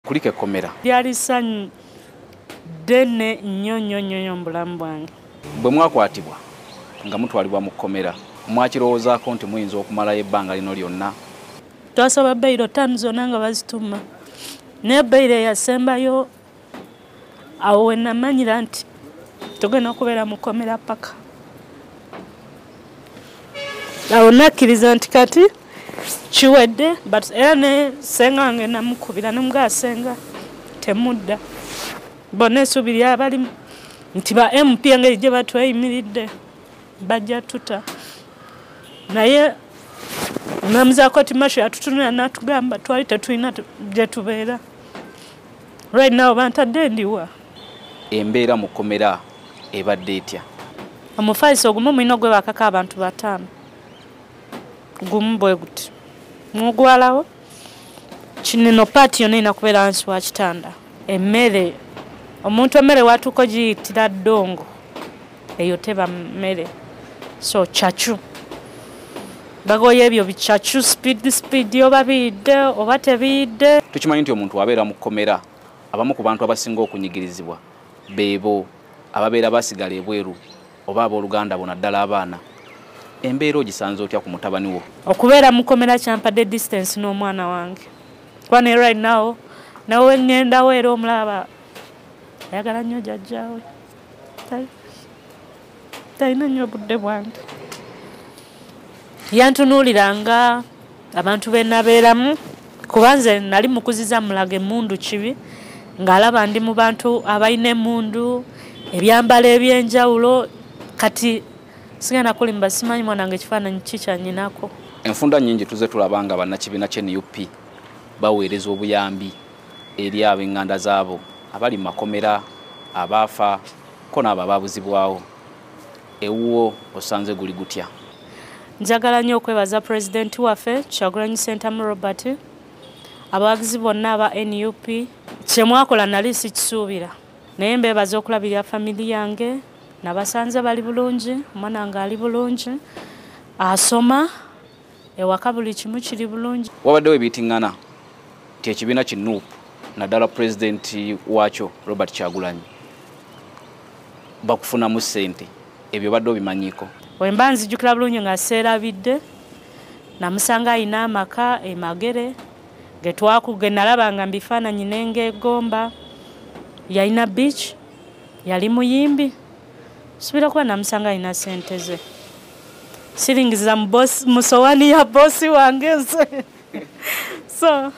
kulika ekkomera. Lyali ssanyu ddene nnyo nnyo nnyo mu bulamu bwange. Bwe mwakwatibwa nga mutwalibwa mu kkomera, mwakirowoozaako nti muyinza okumalayo ebbanga lino lyonna? Twasaba beyiro ttaanu zonna nga bazituma naye beyiro eyasembayo awo wenamanyira nti togenda okubeera mukomera paka awo nakkiriza nti kati kiwedde but era ne senga wange namukubira nomugaa senga temudda bona esuubi lyabalimu nti ba mp engeri gye batweyimiridde bajja tuta naye namuzaako ti masho yatutunula natugamba twali tetulina gyetubeera Right now bantadde ndiwa. Embeera mu kkomera ebadde etya? Omufaliso ogumu mulina ogwebakako abantu bataano. Gumu bwe guti. Mugwalawo. Kinino paati yonna erina kubeera wansi wa kitanda. Emmere. Omuntu emmere watuuka ogiyitira ddongo. eyo teba mmere so cacu bagoye ebyo bicacu sipiidi sipiidi oba biyidde oba tebiyidde tukimanyi nti omuntu abeera mu kkomera abamu ku bantu abasinga okunyigirizibwa beebo ababeera basigala ebweru oba abooluganda bona ddala abaana embeera ogisanze otya ku mutabani wo okubeera mu kkomera kyampadde distance n'omwana wange kuba ne right now nawe ŋŋendawo era omulaba ayagala nnyo jajjaawe talina nnyo obudde bwange yantunuulira nga abantu be nabeeramu kuba nze nali mukuziza mulaga emundu kibi ng'alaba ndi mu bantu abalina emundu ebyambalo ebyenjawulo kati sigenda kulimba simanyi mwana nga ekifaananyi kikyanyinako enfunda nyingi tuze tulaba nga bannakibiina kya nup baweereza obuyambi eri ab'eŋŋanda zaabo abali mu makomera abaafa ko naabo abaabuzibwawo ewuwo osanze guli gutya njagala nnyo okwebaza pulezidenti waffe kyagulanyi sentamu robert abawagizi bonna aba nup kyemwakola nali sikisuubira naye mbeebaza okulabirira famili yange nabasanze bali bulungi omwana nga ali bulungi asoma ewaka buli kimu kiri bulungi wabaddewo ebitingana nti ekibiina ki nup naddala pulezidenti waakyo robert kyagulanyi bakufunamu ssente ebyo badde obimanyiiko wemba nzijukira bulungi nga seerabidde namusanga alina amaka emagere getwakuge nalabanga mbifaananyi nengeegomba yalina beach yali muyimbi subira kuba namusanga alina sente ze shillings za boss musowani ya boss wange nze so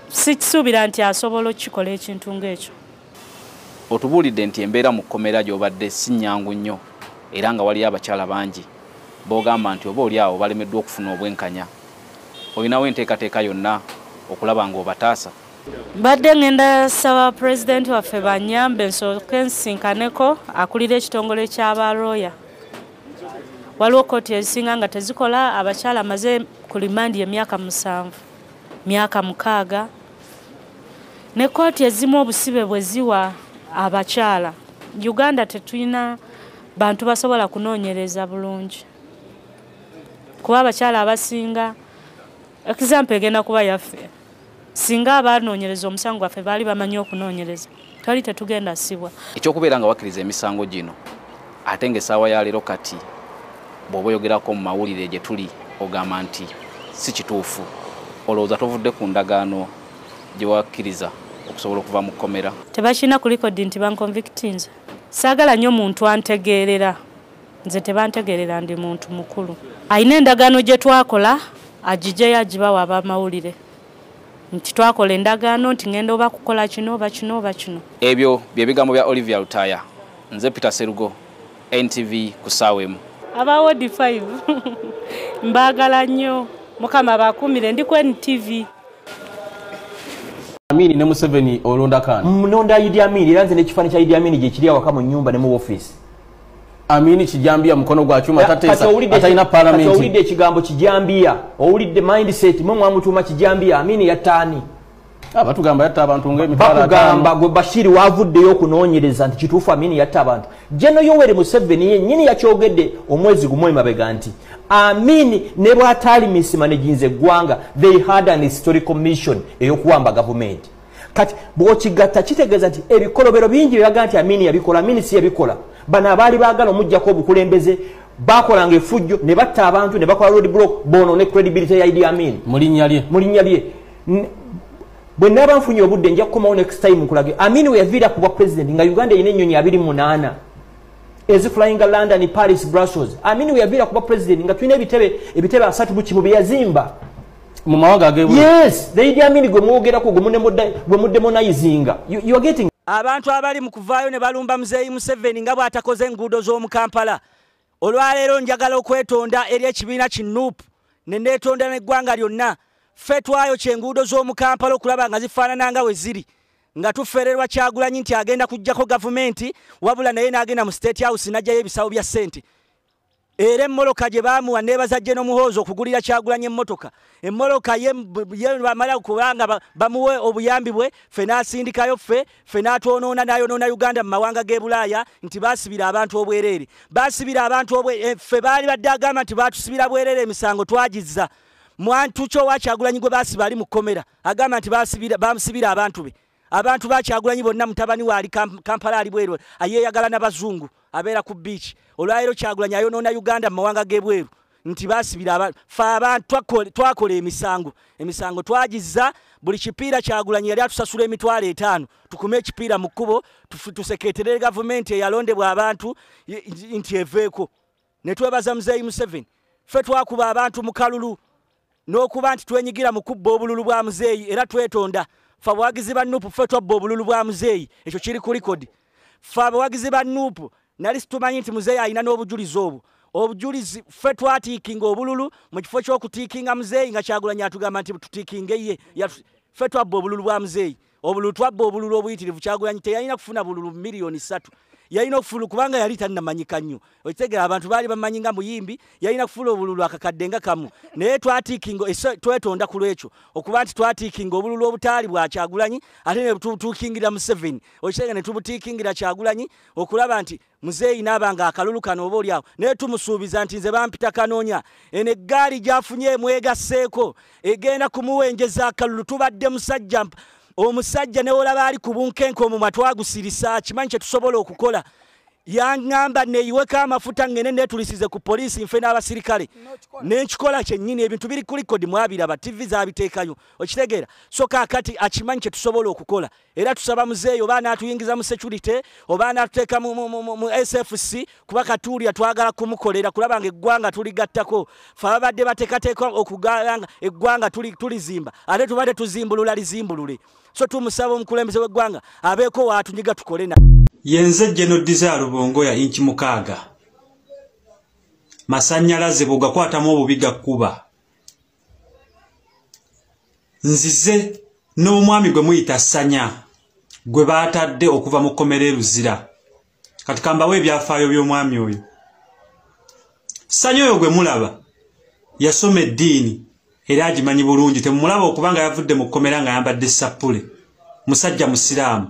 sikisuubira nti asobola okukikola ekintu ng'ekyo otubuulidde nti embeera mu kkomera gy'obadde si nnyangu nnyo era nga waliyo abakyala bangi b'ogamba nti oba oli awo balemeddwa okufuna obwenkanya olinawo enteekateeka yonna okulaba ng'obataasa mbadde ŋŋenda saba pulezidenti waffe banyambe nsooke nsinkaneko akulira ekitongole ky'aba looya waliwo kkooti ezisinga nga tezikola abakyala amaze ku limandi emyaka musanvu myaka mukaaga ne kkooti ezimu obusibe bwe ziwa abakyala uganda tetulina bantu basobola kunoonyereza bulungi kuba abakyala abasinga Example egenda kuba yaffe. Singa abanoonyereza omusango gwaffe baali bamanyi okunoonyereza twali tetugenda sibwa. Ekyokubeera nga wakkiriza emisango gino ate nga essaawa ya leero kati bw'oba oyogerako mu mawulire gye tuli ogamba nti si kituufu olowooza tovudde ku ndagaano gye wakkiriza okusobola okuva mu kkomera tebakirina kulikodi nti bankonvictinze saagala nnyo muntu antegeerera nze tebantegerera ndi muntu mukulu alina endagaano gye twakola agijeyo agibawa abamawulire nti twakola endagaano nti ngenda oba kukola kino oba kino oba kino ebyo bye bigambo bya olivia lutaaya nze peter serugo ntv ku ssaawa emu abawodi 5 mbaagala nnyo mukama bakuumire ndi ku ntv Amini ne Museveni olonda kan. Mnonda Idi Amini era nze ne kifani kya Idi Amini gye kiri awaka mu nyumba ne mu office. amini kijambiya mukono gwa chuma tatesa ataina parliament owulidde ekigambo kijambiya owulidde mindset mwe mwamutuuma kijambiya amini yatani ah, batugamba yatta abantu ngemitwalobakugamba gwe bashiri wavuddeyo okunoonyereza nti kituufu amini yatta abantu jeno yoweri museveni yenyini yakyogedde omwezi gumu emabega nti amini ne bwataali misima nejinza eggwanga they had an historical mission eyokuwamba gavumenti kati bwokigatta kitegeeza nti ebikolobero bingi byebaga nti amini yabikola amini si yabikola bano abaali baagala omujjako obukulembeze bakolanga efujjo ne batta abantu ne bakola road block bono ne credibility ya idi amin mu linnya lye bwe naaba nfunye obudde nja kukomawo next time nkulage amin we yaviira ku bwa president nga uganda erina ennyonyi abiri munaana eziflyinga london paris brussels amin we yaviira ku bwa president nga tulina ebitebe ebitebe asatu bukimu bye yazimba mu mawanga agebu yes the idi amini gwe mwogera ku gwe munemoda gwe mudemonizing you, you are getting abantu abali mu kuvaayo ne balumba muzeeyi museveni nga bw'atakoze enguudo z'omu kampala olwaleero njagala okwetonda eri ekibiina ki nup ne neetonda n'eggwanga lyonna ffe twayo kyenguudo z'omu kampala okulaba nga zifaanana nga we ziri nga tufererwa kyagulanyi nti agenda kujjako gavumenti wabula naye n'agenda mu state house n'ajjayo ebisawo bya ssente era emmoloka gye baamuwa neebaza gye n'omuhoozi okugulira kyagulanya emmotoka emmoloka ye bamala kubanga bamuwe obuyambi bwe ffe n'asindikayo ffe ffe n'atwonoona n'ayonoona uganda mu mawanga g'e bulaaya nti baasibira abantu obwereere baasibira abantu obwe eh, ffe baali badde agamba nti baatusibira bwereere emisango twagizza mwantu kyo wakyagulanyi gwe baasiba ali mu kkomera agamba nti baasibira abantu be abantu bakyagulanyi bonna mutabani waali kampala ali bweru ayeyagala nabazungu abeera ku beach olwaleero kyagulanyi ayonoona uganda mu mawanga gebweru nti basibira abantu fe abantu twakola emisango emisango twagiza buli kipiira kyagulanyi yali atusasula emitwalo etaano tukume ekipiira mu kkubo tuseketerere gavumenti eyalondebwa abantu nti eveeko ne twebaza muzeeyi museveni ffe twakuba abantu mu kalulu n'okuba nti twenyigira mu kubba obululu bwa muzeeyi era twetonda fe abawagizi ba nuupu ffe twabba obululu bwa muzeeyi ekyo kiri ku likodi fe abawagizi ba nuupu nali situmanyi nti muzeeyi alina n'obujulizi obwo obujulizi ffe twatiikinga obululu mu kifo ky'okutiikinga muzeeyi nga kyagulanyi atugamba nti tuttiikinge ye ffe twabba obululu bwa muzeeyi obululu twabba obululu obuyitirivu kyagulanyi teyalina kufuna bululu miliyoni satu yalina okufulu kubanga yali tanamanyika nnyo okitegera abantu baali bamanyi nga muyimbi yalina kufula obululu akakadde nga kamu naye twatikinga twetonda ku lwekyo okuba nti twatikinga obululu obutaali bwa kyagulanyi ate netubutukingira museveni okitegera netubutikingira kyagulanyi okulaba nti muzeeyi naaba nga akalulu kano oba olyawo naye tumusuubiza nti nze bampita kanoonya eno eggaali gyafunye mwegasseeko egenda kumuwenjeza akalulu tubadde musajja omusajja newolaba ali ku bunkenke omumwa twagusirisa kimanyi kyetusobola okukola yangamba neyiweko amafuta ngene netulisize ku poliisi nfe n'abasirikale nenkikola kyennyini ebintu biri kulikodi mwabiraba tivi zabiteekayo okitegeera so kakati akimanyi kyetusobola okukola era tusaba muzeeyi oba anatuyingiza mu security oba anatuteeka mu sfc kuba katuulya twagala kumukolera kulaba nga eggwanga tuligattako fe ababadde batekateeka okugala nga eggwanga tulizimba ate tubadde tuzimbulula lizimbulule so tumusaba omukulembeze w'eggwanga abeeko waatunyiga tukole na yenze geno diza lubongo ya inki mukaaga masanyalaze bwegakwatamu obubi gakkuba nzize n'omwami gwe muyita sanya gwe baatadde okuva mu kkomera eruzira kati kambawo ebyafaayo by'omwami oyo sanya oyo gwe mulaba yasoma eddiini era agimanyi bulungi temumulaba okubanga yavudde mu kkomera nga yambadde sappule musajja musiraamu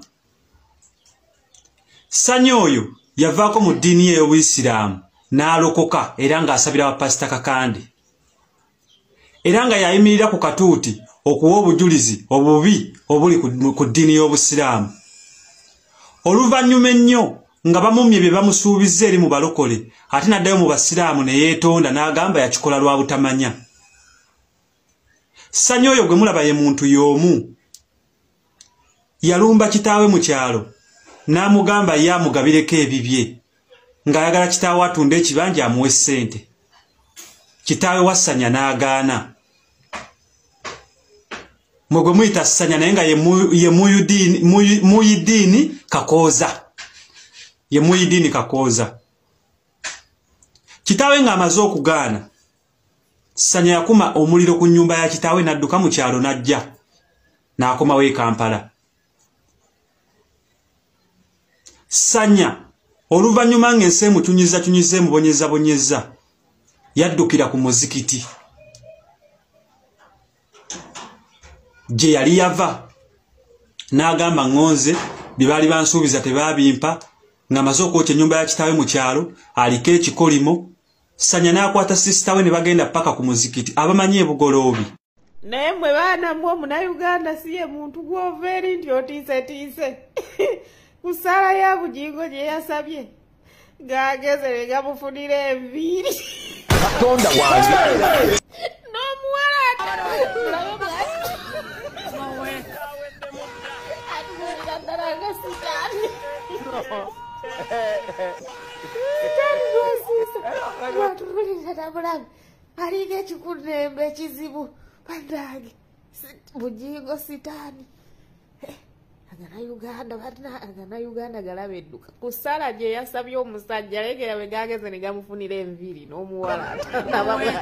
sanya oyo yavaako mu ddiini ye ey'obuyisiraamu n'alokoka era ng'asabira bapasita kakande era nga yayimirira ku katuuti okuwa obujulizi obubi obuli ku ddiini y'obusiraamu oluvannyuma ennyo nga bamumye bye bamusuubizza eri mu balokole ate n'addayo mu basiraamu ne yeetonda n'agamba yakikola lwa butamanya sanya oyo gwe mulaba ye muntu y'omu yalumba kitaawe mu kyalo n'amugamba ye amugabireko ebibye ng'ayagala kitaawe atunda ekibanja amuwa essente kitaawe wassanya n'agaana mwe gwe muyita ssanya naye nga ye muyidiini kakooza ye muyidiini kakooza kitaawe ng'amaze okugaana sanya yakuma omuliro ku nyumba ya kitaawe nadduka mu kyalo n'ajja n'akomawo e kampala sanya oluvannyuma ng'ensi emucunyizzacunyizza emubonyezabonyezza yaddukira ku muzikiti gye yali yava n'agamba ŋŋonze bye baali bansuubiza tebaabimpa ng'amaze okwokya ennyumba ya kitaawe mu kyalo aliko ekikolimo sanya n'akwata sisita we ne bagenda paka ku muzikiti abamanyi ebugoloobi naye mwe baana mwe omunauganda si ye muntu gwova eri nti otiisetiise ku ssaala ya bugingo gye yasabye ng'ageze ne gamufunira enviiri katonda wange n'omuwala atuulira ddala nga sitaani atululiratabulabe alinga ekikunembe ekizibu banange bugingo sitaani eh, agana uganda agana uganda galaba edduka ku sala gye yasabye omusajja legera bwe gageze ne gamufunira enviiri n'omuwala